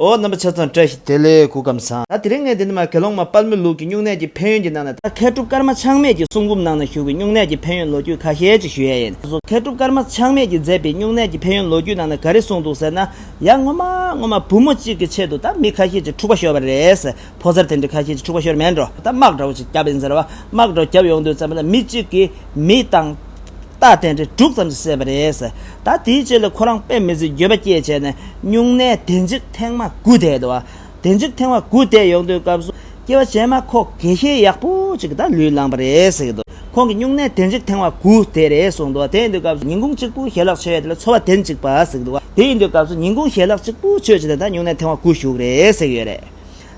ཨོ་རྣམ་པ་ཆ་ཚང་བཀྲ་ཤིས་བདེ་ལེགས་གུ་གམ་བཟང། ད་དེ་རིང་ངས་འདི་འདི་མ་གལ་སློང་མ་དཔལ་མོའི་ལུགས་ཀྱི་སྨྱུང་གནས་ཀྱི་ཕན་ཡོན་གྱི་ནང་ན་ད་མཁས་གྲུབ་ཀརྨ་ཆགས་མེད་ཀྱི་གསུང་འབུམ་ནང་ན་བཞུགས་པའི་སྨྱུང་གནས་ཀྱི་ཕན་ཡོན་ལོ་རྒྱུས་ཁ་ཤས་ཅིག་ཞུ་ཡས་ཡིན། སོ་སོ་མཁས་གྲུབ་ཀརྨ་ཆགས་མེད་ཀྱིས་མཛད་པའི་སྨྱུང་གནས་ཀྱི་ཕན་ཡོན་ལོ་རྒྱུས་ནང་ན་ག་རེ་གསུངས་འདུག་ཟེར་ན། ཡ་ངོ་མ་ངོ་མ་བུ་མོ་གཅིག་གི་ཆེད་དུ་ད་མི་ཁ་ཤས་ཀྱི་འཁྲུག་པ་ཤོར་བ་རེད། ཕོ་སར་དེ་འདྲའི་ཁ་ཤས་ཀྱི་འཁྲུག་པ་ཤོར་མེད་འགྲོ་ད་དམག་དྲག་པོ་ཅིག་བརྒྱབ་ཡིན་ཟེར་བ་དམག་དྲག་བརྒྱབ་ཡོང་དུས་ཙམ་ན་མི་གཅིག་གིས་མི་དང། རྟགས་བསྟན་འགྲེལ་དྲུག་ཙམ་ཞིག་བཤད་པ་རེད། ད་དེའི་རྗེས་ལ་ཁོ་རང་དཔེ་མི་སྲིད་འགྱོད་པ་སྐྱེས་བྱས་ནས་སྨྱུང་གནས་བདེ་འཇིགས་ཐེངས་མ་དགུ་བསྡད་འདུག་བདེ་འཇིགས་ཐེངས་མ་དགུ་བསྡད་ཡོང་དུས་སྐབས་སུ་སྐྱེ་བ་ཅན་མ་ཁོག་དགེ་ཤེས་ཡག་པོ་ཅིག་ད་ལུས་བླངས་པ་རེད་ཟེར་གྱི་འདུག་ཁོང་གིས་སྨྱུང་གནས་བདེ་འཇིགས་ཐེངས་མ་དགུ་བསྡད་རེད་གསུངས་འདུག་དེ་ཡིན་དུས་སྐབས་སུ་ཉིན་གུང་གཅིག་པུ་ཞལ་ལག་མཆོད་ཡས་དེ་ལ་འཚོ་བ་བདེན་ཅིག་པ་ཟེར་གྱི་འདུག་དེ་ཡིན་དུས་སྐབས་སུ་ཉིན་གུང་ཞལ་ལག་གཅིག་པུ་མཆོད་བྱས་ནས་ད་སྨྱུང་གནས་ཐེངས་མ་དགུ་བཞུགས་རེད་ཟེར་གྱི་ཡོད་རེད།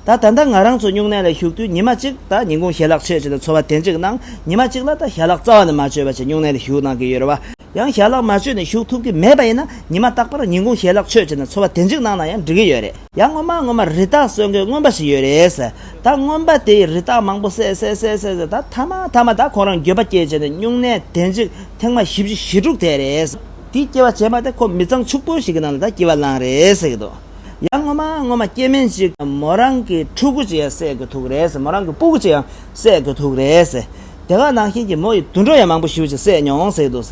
ད་ད་ལྟ་ང་རང་ཚོ་སྨྱུང་གནས་ལ་བཞུགས་དུས་ཉི་མ་གཅིག་ད་ཉིན་གུང་ཞལ་ལག་མཆོད་བྱེད་དུ་འཚོ་བ་དེ་འཇིག་གནང་ཉི་མ་གཅིག་ལ་ད་ཞལ་ལག་རྩ་བ་ནས་མ་མཆོད་པ་ཆེད་སྨྱུང་གནས་ལ་བཞུགས་གནང་གི་ཡོད་རེད་བ། ཡང་ཞལ་ལག་མ་མཆོད་ནས་བཞུགས་ཐུབ་ཀི་མེད་པ་ཡིན་ན་ཉི་མ་རྟག་པར་ཉིན་གུང་ཞལ་ལག་མཆོད་བྱེད་དུ་འཚོ་བ་དེ་འཇིག་གནང་ན་ཡང་འགྲིག་གི་ཡོད་རེད། ཡང་སྔོན་མ་སྔོན་མ་རི་དྭགས་གསོད་མཁན་རྔོན་པ་ཞིག་ཡོད་རེད། ད་རྔོན་པ་དེ་ཡིས་རི་དྭགས་མང་པོ་བསད་བསད་བསད་བསད་བསད་ད་མཐའ་མ་མཐའ་མ་ད་ཁོང་རང་འགྱོད་པ་སྐྱེས་བྱས་ནས་སྨྱུང་གནས་དེ་འཇིག་ཐེངས་མ་བཞི་བཞི་ཞེ་དྲུག་བསྡད་རེད། དེ་སྐྱེ་བ་བྱས་མ་ཐེ་ཁོ་མི་ཚང་ཕྱུག་པོ་ཞིག་གི་ནང་ལ་ད་སྐྱེ་བ་བླངས་རེད་ཟེར་གི་འདུག། ཡང་ངོ་མ་ངོ་མ་སྐྱེས་དམན་ཅིག་གམ་མོ་རང་གི་ཕྲུ་གུ་ཅིག་ཡང་བསད་དགོས་ཐུག་རེད། མོ་རང་གི་སྤུ་གུ་ཅིག་ཡང་བསད་དགོས་ཐུག་རེད། དེ་ག་ནང་བཞིན་གྱི་མོ་ཡི་དུད་འགྲོ་ཡང་མང་པོ་ཞིག་ཅིག་བསད་མྱོང་ཟེར་གི་འདུག་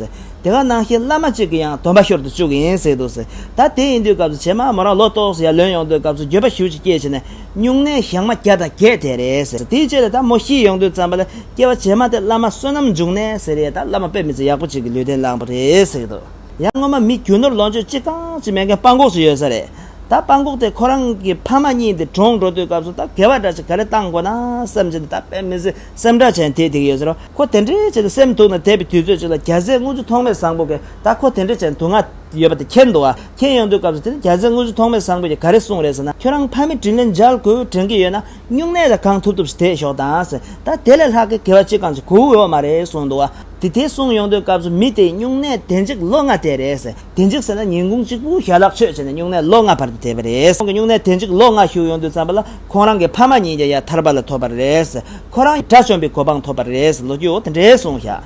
དེ་ག་ནང་བཞིན་བླ་མ་ཅིག་གི་ཡང་དོན་པ་ཤོར་དུ་བཅུག་གི་ཡིན་ཟེར་གི་འདུག་ད་དེ་ཡིན་དུས་སྐབས་སུ་བྱེ་མ་མོ་རང་ལོ་ཏོག་སུ་ཡར་ལོན་ཡོང་དུས་སྐབས་སུ་འགྱོད་པ་ཞིག་ཅིག་སྐྱེས་བྱས་ནས་སྨྱུང་གནས་བཞག་མ་བརྒྱ་དང་བརྒྱད་དེ་རེད། དེའི་རྗེས་ལ་ད་མོ་ཤི་ཡོང་དུས་ཙམ་པ་ལ་སྐྱེས་པ་བྱེ་མ་དེ་བླ་མ་བསོད་ནམས་འབྱུང་གནས་ཟེར་ཡས་ད་བླ་མ་དཔེ་མི་ཚེ་ཡག་པོ་ཅིག་གི་ལུས་རྟེན་བླངས་པ་རེད་ཟེར་གི་འདུག། ཡང་སྔོན་མ་མི་རྒྱུ་ནོར་ལོངས་སྤྱོད་ཅི་གང་ཅི་མེད་མཁན་སྤང་ཁོག་སུ་ཡོད་ས་རེད། ད་སྤང་ཁོག་དེ་ཁོ་རང་གི་ཕ་མ་གཉིས་འདི་གྲོངས་འགྲོ་དུས་སྐབས་སུ་ད་དགེ་བ་འདྲ་ཅིག་ག་རེ་བཏང་དགོས་ན་བསམ་གྱི་འདུག་ད་དཔེ་མི་ཚེ་སེམས་ཁྲག་ཆེན་དེད་དེ་གི་ཡོད་ས་རེད། ཁོ་དེ་འདྲའི་བྱས་ཏེ་སེམས་སྡུག་ན་དེད་པའི་དུས་ཚོད་ཅིག་ལ་རྒྱ་ཟས་དངུལ་ཆུ་ཐོག་མེད་བཟང་པོ་གིས་ད་ཁོ་དེ་འདྲའི་བྱས་ནས་དུག་ལྔ་ཡོད་པ་དེ་ཁྱེར་འདུག་ཨ་ཁྱེར་ཡོང་དུས་སྐབས་སུ་དེ་ནི་རྒྱ་ཟས་དངུལ་ཆུ་ཐོག་མེད་བཟང་པོ་གིས་ག་རེ་གསུངས་རེད་ཟེར་ན་ཁྱོད་རང་ཕ་མའི་དྲིན་ལན་འཇལ་དགོས་དྲན་གྱི་ཡོད་ན་སྨྱུང་གནས་ལ་གང་ཐུབ་ཐུབ་བྱེད་ཞོག་དང་ཟེར། ད་དེ་ལས་ལྷག་གི་གེ་བ་ཅི་གང་ཅི་གོ་འོས་བ་མ་རེད་གསུངས་འདུག་བ། དེ་དེ་གསུངས་ཡོང་དུས་སྐབས་སུ་མི་དེའི་སྨྱུང་གནས་དེ་འཇིག་ལོ་ལྔ་དེ་རེད་ཟེར། དེ་འཇིག་ཟེར་ན་ཉིན་གུང་གཅིག་པུའི་ཞལ་ལག་མཆོད་བྱས་ནས་སྨྱུང་གནས་ལོ་ལྔ་བར་དུ་བསྡད་པ་རེད། ཁོང་གི་སྨྱུང་གནས་དེ་འཇིག་ལོ་ལྔ་བཞུགས་ཡོང་དུས་བརྩམས་པ་ལ་ཁོང་རང་གི་ཕ་མ་གཉིས་ཀྱང་ཡར་ཐར་པ་ལ་ཐོབ་པ་རེད། ཁོ་རང་དགྲ་བཅོམ་པའི་གོ་འཕང་ཐོབ་པ་རེད། ལོ་རྒྱུས་འོག་དེ་འདྲའི་གསུངས་བཞག།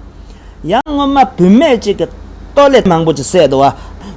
ཡང་སྔོན་མ་བུད་མེད་ཅིག་གིས་སྟོད་ལས་མང་པོ་ཅིག་བསད་དོ།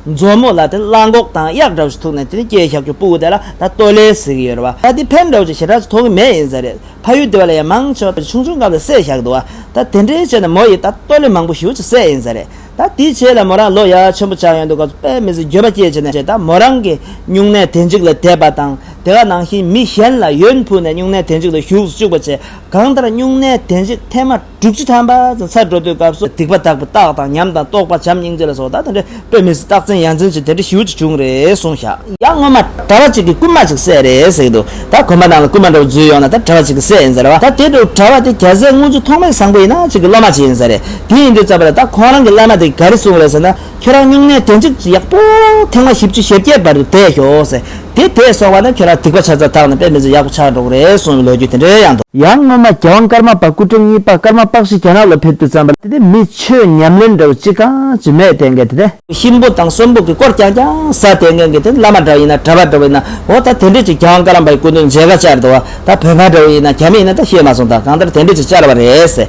མཛོ་མོ་ལ་དེ་གླང་གོག་དང་གཡག་འདྲ་བོ་ཞིག་ཐུག་ནས་དེ་ནི་སྐྱེས་ཞག་གི་སྤུ་དེ་ལ་ད་སྟོད་ལས་གཟིགས་ཡོད་རེད། ད་དེ་ཕན་འདྲ་བོ་ཅིག་ཞེ་དྲག་ཅིག་ཐོགས་ཀྱི་མེད་ཡིན་ས་རེད། ཕ་ཡུལ་དེ་བ་ལ་ཡང་མང་ཆེ་བ་དེ་ཆུང་ཆུང་སྐབས་ལས་བསད་ཞག་འདུག་ད་དེ་འདྲའི་ཆེད་ནས་མོ་ཡིས་ད་སྟོད་ལས་མང་པོ་ཞིག་བྱས་ཡིན་ས་རེད། ད་དེའི་ཆེད་ལ་མོ་རང་ལོ་ཡ་ཆེན་པོ་ཆགས་ཡོད་འདུག་སྐབས་སུ་དཔལ་མི་ཟིན་འགྱོད་པ་སྐྱེས་བྱས་ནས་ད་མོ་རང་གིས་སྨྱུང་གནས་དེ་འཇིག་ལ་དེད་པ་དང་དེ་ག་ནང་བཞིན་མི་གཞན་ལ་ཡོན་ཕུལ་ནས་སྨྱུང་གནས་དེ་འཇིག་ལ་ཞུགས་སུ་བཅུག་པ་བྱས་གང་ལྟར་སྨྱུང་གནས་དེ་འཇིག་ཐེངས་མ། དྲུག་ཅུ་ཐམ་པ། ཚར་འགྲོ་དུས་སྐབས་སུ་སྡིག་པ་དག་པའི་རྟགས་དང་ཉམས་དང་རྟོགས་པ་བྱམས་སྙིང་རྗེ་ལ་སོགས་དག་དང་འབྲེལ་པའི་མི་སྲིད་རྟགས་མཚན་ཡང་འཛིན་ཅིང་དེ་འདྲའི་ཞི་བ་ཅི་བྱུང་རེ་གསུངས་ཤག། ཡང་སྔོན་མ་གྲྭ་བ་གཅིག་གིས་རྐུན་མ་ཅིག་བསད་རེ་ཟེགས་འདུག་ད་གོན་པ་རྣམས་ལ་རྐུན་མ་འདྲ་བོ་འཛུལ་ཡོང་ན་ད་གྲྭ་བ་གཅིག་གིས་བསད་ཡིན་ཟེར་བ་ད་དེ་འདྲ་བོ་གྲྭ་བ་དེ་གྱ་ཟད་དངུལ་ཆུ་ཐོག་མའི་བཟང་པོ་ཡིན་ན་གཅིག་གི་སློབ་མ་གཅིག་ཡིན་ས་རེད་དེ་ཡིན་དུས་རྩ་བ་ལ་ད་ཁོང་རང་གི་བླ་མ་དེ་ག་རེ་གསུངས་རེ་ཟེར་ན། ཁྱེད་རང་སྨྱུང་གནས་དེ་འཇིགས་ཡག་པོ། ཐེངས་མ་བཞི་བཅུ་ཞེ་བརྒྱད་པར་དེད་ཞོག་ཟེར། དེ་དེད་སོང་བ་ན་ཁྱེད་རང་སྡིག་པ་ཆ་ཚ་དག་ནས་དཔེ་མི་ཚེ་ཡག་པོ་ཆགས་འགྲོ་གི་རེད་གསུངས་བའི་ལོ་རྒྱུས་དེ་འདྲའི་ཡང་འདུག། ཡང་སྔོན་མ་རྒྱལ་དབང་ཀརྨ་པ་སྐུ་ཕྲེང་གཉིས་པ་ཀརྨ་དཔག་ཤི་རྒྱ་ནག་ལ་ཕེབས་དུས་བརྩམས་པ། དེ་མི་ཆོས་ཉམས་ལེན་འདྲ་བོ་ཅི་གང་ཅི་མེད་དེ་འགས་དེ། གཤིན་པོ་དང་གསོན་པོ་གི་སྐོར་ཀྱང་ཀྱང་ཟ་དེ་འགས་འགས་དེ་བླ་མ་འདྲ་བོ་ཡིན་ན་གྲྭ་པ་འདྲ་བོ་ཡིན་ན་འོ་ད་དེ་འདྲས་ཅིག་རྒྱལ་དབང་ཀརྨ་པའི་སྐུ་མདུན་མཇལ་ཁ་བཅར་འདུག་བ་ད་བོད་པ་འདྲ་བོ་ཡིན་ན་ག་མི་ཡིན་ན་ད་ཤེས་མ་སོང་ད་གང་ལྟར་དེ་འདྲས་ཅིག་བཅར་བ་རེད།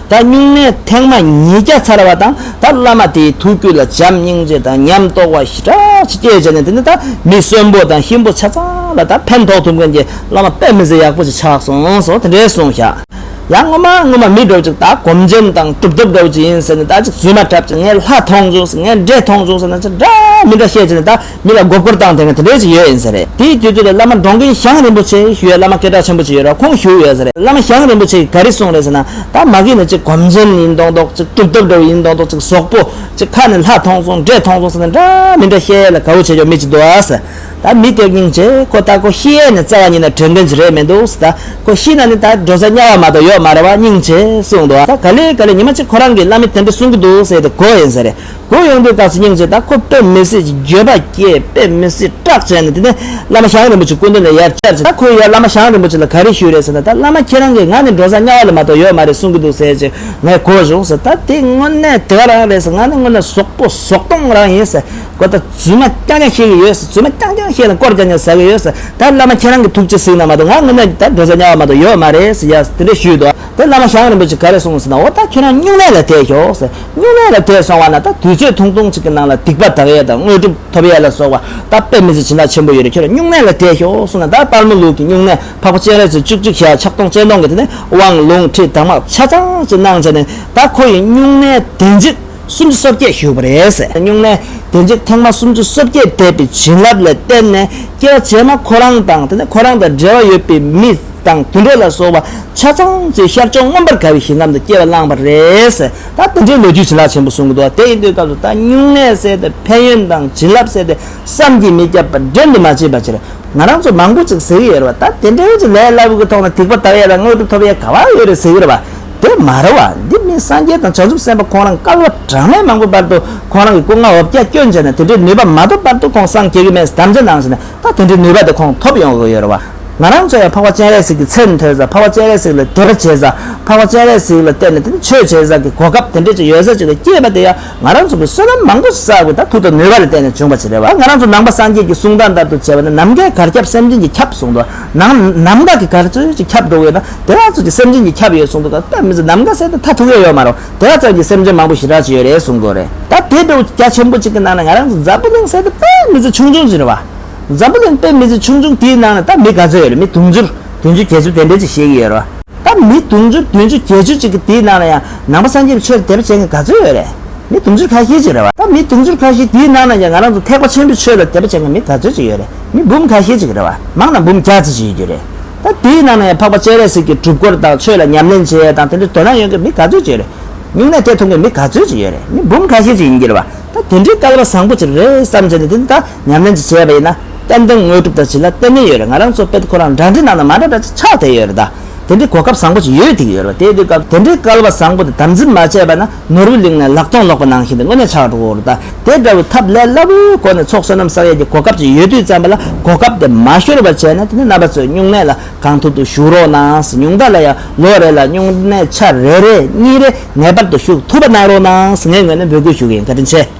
ད་སྨྱུང་གནས་ཐེངས་མ་ཉིས་བརྒྱ་ཚར་བ་དང་ད་བླ་མ་དེའི་ཐུགས་རྒྱུད་ལ་བྱམས་སྙིང་རྗེ་དང་ཉམས་རྟོགས་བ་ཞི་དྲག་ཅིག་སྐྱེས་བྱས་ནས་དེ་ནས་ད་མི་གསོན་པོ་དང་གཤིན་པོ་ཆ་ཚང་ལ་ད་ཕན་ཐོགས་ཐུབ་མཁན་གྱི་བླ་མ་པད་མི་ཟེར་ཡག་པོ་ཅིག་ཆགས་སོང་སོ་དེ་འདྲའི་གསུངས་ཤག་ཡང་སྔོན་མ་སྔོན་མ་མི་འགྲོ་ཅིག་ད་གོམ་ཆེན་དང་གྲུབ་ཐོབ་འགྲོ་རྒྱུ་ཡིན་ཟེར་ནས་ད་ཅིག་རྫུན་མ་གྲབས་ཅིག་ངས་ལྷ་མཐོང་བྱུང་ཟེར་ངས་འདྲེ་མཐོང་བྱུང་ཟེར་ན་ཅི་འདྲ་མི་འདྲ་བཤད་བྱས་ནས་ད། མི་ལ་མགོ་སྐོར་བཏང་དེ་སྔ་དེ་འདྲས་ཅིག་ཡོད་ཡིན་ཟེར་རེད་དེའི་དུས་ཚོད་ལ་བླ་མ་འབྲོང་རྒན་ཞང་རིན་པོ་ཆེ་ཞུ་ཡ་བླ་མ་སྐད་གྲགས་ཆེན་པོ་ཅིག་ཡོད་ར་ཁོང་བཞུགས་ཡོད་ཟེར་རེད་བླ་མ་ཞང་རིན་པོ་ཆེ་ག་རེ་གསུངས་རེད་ཟེར་ན་ད་མ་གིས་ནི་ཅིག་གོམ་ཆེན་ཡིན་མདོག་མདོག་ཅིག་གྲུབ་ཐོབ་འདྲ་བོ་ཡིན་མདོག་མདོག་ཅིག་ཟོག་པོ་ཅིག་ཁ་ནས་ལྷ་མཐོང་སོང་འདྲེ་མཐོང་སོང་ཟེར་ན་འདྲ་མི་འདྲ་ཤེས་ཡ་ལ་ག་བོ་བྱེད་ཆོག་མི་ཅིག་འདུག་ཨ་ཟེར་ད་མི་སྐྱོ་སྙིང་རྗེ་ཁོ་ལྟ་ཁོ་ཤི་ཡས་ནས་བཙའ་བ་ཉིད་ན་དྲོད་འགན་ཅིག་རེད་མི་འདུག་ཟེར་ད་ཁོ་ཤི་ན་ནི་ད་འགྲོ་ས་དམྱལ་བ་མ་གཏོགས་ཡོད་མ་རེད་བ་སྙིང་རྗེ་གསུངས་འདུག་ད་ག་ལེ་ག་ལེ་ཉི་མ་གཅིག་ཁོ་རང་གིས་བླ་མས་དེ་འདྲས་གསུངས་ཀྱི་འདུག་ཟེར་དེ་གོ་ཡིན་ཟེར་རེད། གུ་ཡངས་པོའི་དགའ་ཚལ་སྙིང་རྗེ་དང་ཁོ་དཔེ་མི་སྲིད་ཀྱི་འགྱོད་པ་སྐྱེས་དཔེ་མི་སྲིད་སྐྲག་བྱས་ནས་དེ་ནས་བླ་མ་ཞང་རིན་པོ་ཆེ་སྐུ་མདུན་ནས་ཡར་བཅར་གྱིས་ད་ཁོས་ཡར་བླ་མ་ཞང་རིན་པོ་ཆེ་ལ་ག་རེ་ཞུས་རེད་ཟེར་ན་ད་བླ་མ་ཁྱེད་རང་གིས་ང་ནི་འགྲོ་ས་དམྱལ་བ་ལས་མ་གཏོགས་ཡོད་མ་རེད་གསུང་གི་འདུག་ཟེར་གྱིས་ངས་གོ་བཞུགས་ཟེར་ད་དེ་དངོས་གནས་དེ་ག་རང་རེད་ཟེར་ང་ནི་དངོས་གནས་ཟོག་པོ་ཟོག་སྟོང་རང་ཡིན་ཟེར་གོ་ད་རྫུན་མ་རྐྱང་རྐྱང་བཤད་གི་ཡོད་ཟེར་རྫུན་མ་རྐྱང་རྐྱང་བཤད་ནས་སྐོར་རྐྱང་རྐྱང་ཟ་གི་ཡོད་ཟེར་ད་བླ་མ་ཁྱེད་རང་གི་ཐུགས་རྗེ་གཟིགས་ན་མ་གཏོགས་ང་དངོས་གནས་ད་འགྲོ་ས་དམྱལ་བ་མ་གཏོགས་ཡོད་མ་རེད་ཟེར་ཡར་དེ་འདྲས་ཞུས་འདུག་དེར་བླ་མ་ཞང་རིན་པོ་ཆེ་ག་རེ་གསུང་ཟེར་ན་འོ་ད་ཁྱེད་རང་སྨྱུང་གནས་ལ་བསྡད་ཤོག་ཟེར། སྙིང་ནད་ལ་དེད་སོང་བ་ན་ད་དུས་ཚོད་ཐུང་ཐུང་གཅིག་གི་ནང་ལ་སྡིག་པ་དག་ཡས་དང་དངོས་གྲུབ་ཐོབ་ཡས་ལ་སོགས་པ་ད་དཔེ་མི་ཚེ་ཇི་འདྲ་ཆེན་པོ་ཡོད་རེད་ཁྱོད་ལ་སྙུང་ནད་ལ་དེད་ཞོག་གསུངས་ན་ད་དཔར་མོ་ལུག་གི་སྙུང་ནད་ཕག་པ་སྤྱན་རས་གཟིགས་བཅུ་གཅིག་ཞལ་ཕྱག་སྟོང་སྤྱན་སྟོང་གི་དེ་ནས་དབང་ལུང་ཁྲིད་དྭངས་མ་ཆ་ཚང་གཅིག་གནང་བྱས་ནས་ད་ཁོ་ཡི་སྙུང་ནད་དེད་འཇིགས་སུམ་ཅུ་སོ་བརྒྱད་བཞུགས་པ་རེད། སྙུང་ནད་དེད་འཇིགས་ཐེངས་མ་སུམ་ཅུ་སོ་བརྒྱད་དེད་པའི་བྱིན་རླབས་ལས་བརྟེན་ནས་སྐྱེ་བ་རྗེས་མ་ཁོ་རང་དང་དེ་ནས་ཁོ་རང་དང་འབྲེལ་བ་ཡོད་པའི་མི། དང་དུད་འགྲོ་ལ་སོགས་པ་ཆ་ཚང་ཚོས་ཤར་ཕྱོགས་མངོན་པར་དགའ་བའི་ཞིང་ཁམས་དུ་སྐྱེ་བ་བླངས་པ་རེད། ད་དེ་འདྲའི་ལོ་རྒྱུས་བྱིན་རླབས་ཆེན་པོ་གསུང་གི་འདུག་ད་དེ་ཡིན་དུས་སྐབས་སུ་ད་སྨྱུང་གནས་བསལ་ཏེ་ཕན་ཡོན་དང་བྱིན་རླབས་བསལ་ཏེ་བསམ་གྱིས་མི་ཁྱབ་པར་སྦྲན་དུ་མ་བྱས་པའི་ཕྱིར། ང་རང་ཚོ་མང་པོ་ཅིག་ཟེར་གྱི་ཡོད་རེད་པ་ད་དེ་འདྲའི་ཆེད་ལས་སླ་བོའི་གི་ཐོག་ནས་ཐིག་པ་དག་ཡས་དང་དངོས་གྲུབ་ཐོབ་ཡས་ག་བ་ཡོད་རེད་ཟེར་གྱི་རེད་པ་དེ་མ་རེད་བ། འདི་མིན་སངས་རྒྱས་དང་བྱང་ཆུབ་སེམས་དཔའ་ཁོང་རང་སྐལ་བ་གྲངས་མེད་མང་པོའི་བར་དུ་ཁོང་རང་གི་སྐུ་ལྔ་འོབ་བརྒྱ་སྐྱོན་བྱས་ནས་དེ་འདྲའི་ནུས་པ་མ་ཐོབ་བར་དུ་ཁོང་སངས་རྒྱས་ཀྱི་སྨན་སུ་དམ་བཅའ་གནང་བྱས་ནས་ད་དེ་འདྲའི་ནུས་པ་དེ་ཁོང་ཐོབ་ཡོང་གི་ཡོད་རེད་བ། ང་རང་ཚོ་ཡང་འཕགས་པ་སྤྱན་རས་གཟིགས་ཀྱི་ཚད་ནས་ཐོས་ས་འཕགས་པ་སྤྱན་རས་གཟིགས་ལ་དད་པ་བྱེད་ས་འཕགས་པ་སྤྱན་རས་གཟིགས་ལ་བལྟས་ནས་དེ་ནི་ཆོས་བྱེད་ས་ཀྱི་གོ་སྐབས་དེ་འདྲས་ཅིག་ཡོད་ས་ཅིག་ལ་སྐྱེས་པ་དེ་ཡང་ང་རང་ཚོ་གི་བསོད་ནམས་མང་པོ་བསགས་དགོས་ད་ཐུག་ད་ནུས་པ་ལ་བརྟེན་ནས་བྱུང་བ་ཅིག་རེད་བ་ང་རང་ཚོ་ནང་པ་སངས་རྒྱས་ཀྱི་གསུང་སྟངས་ལྟར་དུ་བྱས་པ་ནི་ནམ་མཁའི་གར་ཁྱབ་སེམས་ཅན་གྱི་ཁྱབ་གསུང་འདུག་ནང་ནམ་མཁའ་གི་གར་ཚོལ་ཅིག་ཁྱབ་འགྲོ་གི་ཡོད་ན་དེ་ག་ཚོད་ཀྱི་སེམས་ཅན་གྱི་ཁྱབ་ཡོད་གསུང་འདུག་ག་ད་མི་ཚོ་ནམ་མཁའ་གསལ་དུ་མཐའ་ཐུག་ཡས་ཡོད་མ་རུང་དེ་ག་ཙམ་གྱི་སེམས་ཅན་མང་པོ་ཞི་དྲག་ཅིག་ཡོད་རེད་གསུང་དགོས་རེད་ད་དེ་འདྲའི་བུ་རྒྱ་ཆེན་པོ་ཅིག་གི་ནང་ནས་ང་རང་ཚོ་འཛམ་བུ་གླིང་གསལ་དུ་དཔལ་མི་ཚོ་ཆུང་ཆུང་ཅིག་རེད་བ། འཛམ་བུ་གླིང་པའི་མི་ཚེ་ཆུང་ཆུང་དེའི་ནང་ལ་ད་མི་ག་ཚོད་ཡོད་རེད་མི་དུང་ཕྱུར་བདུན་ཅུ་བརྒྱད་ཅུ་དེ་འདྲའི་ཅིག་བཞེས་ཀྱི་ཡོད་རེད་བ། ད་མི་དུང་ཕྱུར་བདུན་ཅུ་བརྒྱད་ཅུ་ཅིག་གི་དེའི་ནང་ལ་ཡང་ནང་པ་སངས་རྒྱས་པའི་ཆོས་དད་པ་བྱེད་མཁན་ག་ཚོད་ཡོད་རེད། མི་དུང་ཕྱུར་ཁ་ཤས་ཅིག་རེད་བ། ད་མི་དུང་ཕྱུར་ཁ་ཤས་དེའི་ནང་ལ་ཡང་ང་རང་ཚོ་ཐེག་པ་ཆེན་པོའི་ཆོས་ལ་དད་པ་བྱེད་མཁན་མི་ག་ཚོད་ཅིག་ཡོད་རེད་མི་འབུམ་ཁ་ཤས་ཅིག་རེད་བ། མང་དང་འབུམ་བརྒྱ་ཅིག་ཅིག་ཡོད་རྒྱུ་རེད། ད་དེའི་ནང་ལ་ཡང་འཕགས་པ་སྤྱན་རས་གཟིགས་ཀྱི་སྒྲུབ་སྐོར་དང་ཆོས་ལ་ཉམས་ལེན་བྱེད་ཡས་དང་དེ་འདྲའི་དོ་སྣང་ཡོད་མཁན་མི་ག་ཚོད་ཅིག་རེད། སྨྱུང་གནས་དེ་མཐོང་མཁན་མི་ག་ཚོད་ཅིག་ཡོད་རེད་མི་འབུམ་ཁ་ཤས་ཅིག་ཡིན་རྒྱུ་རེད་བ། ད་དེ་འདྲའི་སྐལ་བ་བཟང་པོ་ཅིག་རེད་བསམ་བྱས་ནས་དེ་ནི་ད། ཉམས་ལེན་གྱིས་བྱས་པ་ཡིན་ན་གཏན་གཏན་དངོས་གྲུབ་དང་བྱིན་རླབས་གཏན་ནས་ཡོད་རེད་ང་རང་ཚོ་དཔེ་དེབ་ཁོ་རང་འདྲ་འདྲའི་ནང་ན་མ་འདྲ་འདྲ་ཅིག་ཆགས་བསྡད་ཡོད་རེད་ད། དེ་འདྲའི་གོ་སྐབས་བཟང་པོ་ཅིག་ཡོད་ཐིག་ཡོད་རེད་པ་དེའི་དུས་སྐབས་དེ་འདྲའི་སྐལ་བ་བཟང་པོ་དེ་དམ་འཛིན་མ་བྱས་པ་ན་ནོར་བུའི་གླིང་ནས་ལག་སྟོང་ལོག་པ་ནང་བཞིན་དུ་དངོས་གནས་ཆགས་འགྲོ་རེད་ད་དེ་འདྲ་བའི་ཐབས་ལས་སླ་བོའི་སྒོ་ནས་ཚོགས་བསོད་ནམས་བསགས་ཡས་ཀྱི་གོ་སྐབས་ཅིག་ཡོད་དུས་བརྩམས་པ་ལ་གོ་སྐབས་དེ་མ་ཤོར་བར་བྱས་ན་དེ་ནི་རྣམ་པ་ཚོས་སྨྱུང་གནས་ལ་གང་ཐུབ་ཐུབ་ཞུགས་རོགས་གནང་སྨྱུང་རྟ་ལ་ཡང་ལོ་རེ་ལ་སྨྱུང་གནས་ཆ་རེ་རེ་གཉིས་རེ་ངེས་པར་དུ་ཞུགས་ཐུབ་པ་གནང་རོགས་གནང་ངའི་ངོས་ནས་འབོད་སྐུལ་ཞུ་གི་ཡིན་བཀའ་དྲིན་ཆེ།